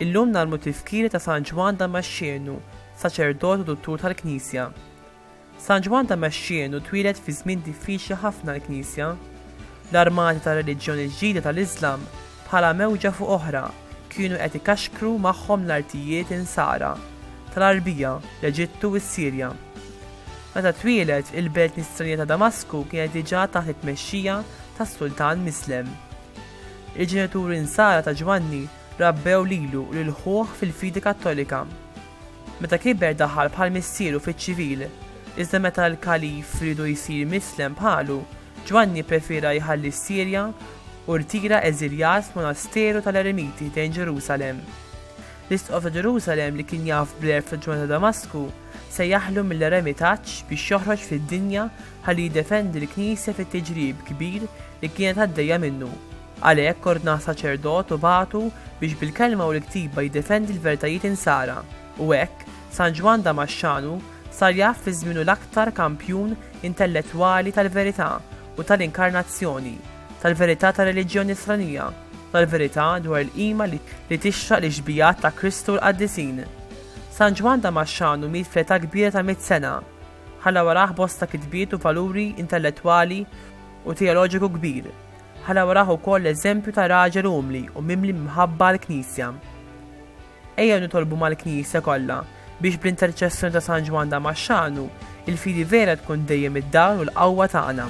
Illum nagħlmu t-tifkiri ta' San Ġwann Damaxxenu, saċerdot u duttur tal-Knisja. San Ġwann Damaxxenu twieled fi żmien diffiċli ħafna għall-Knisja. L-armati tar-reliġjoni l-ġdida tal-Iżlam, bħala mewġa fuq oħra, kienu qed ikaxkru magħhom l-artijiet Insara tal-Għarbija, l-Eġittu u s-Sirja. Meta twieled, il-belt nisranija ta' Damasku kienet diġà taħt it-tmexxija tas-sultan Mislem. Il-ġenituri Nsara ta' Ġwanni rabbew lilu u lil ħuh fil-fidi Kattolika. Meta kiber daħal bħal missieru fiċ-ċivil, iżda meta l-Kalif riedu jsir mislem bħalu, Ġwanni pprefiera jħalli s-Sirja u rtira eżiljat f'monasteru tal-eremiti ħdejn Ġerusalemm. L-Isqof ta' Ġerusalemm li kien jaf bl-għerf ta' Ġwanni ta' Damasku sejjaħlu mill-eremitaġġ biex joħroġ fid-dinja ħalli jiddefendi l-Knisja fit-tiġrib kbir li kienet għaddejja minnu. Għalhekk ordna saċerdot u bagħtu biex bil-kelma u l-ktiba jiddefendi l-vertajiet Insara, u hekk, San Ġwann Damaxxanu sar jaf fi żmienu l-aktar kampjun intellettwali tal-verità u tal-inkarnazzjoni, tal-verità tar-reliġjon Nisranija, u tal-verità dwar il-qima li tixraq lix-xbigħat ta' Kristu u l-qaddisin. San Ġwann Damaxxanu miet fl-età kbira ta' mitt sena. Ħalla warah bosta kitbiet u valuri intellettwali u teoloġiku kbir. Ħa narawh ukoll eżempju ta' raġel umli u mimli mħabba għall-Knisja. Ejjew nitolbu mal-Knisja kollha biex bl-interċessjoni ta' San Ġwann Damaxxanu, il-fidi vera tkun dejjem id-dawl u l-qawwa tagħna.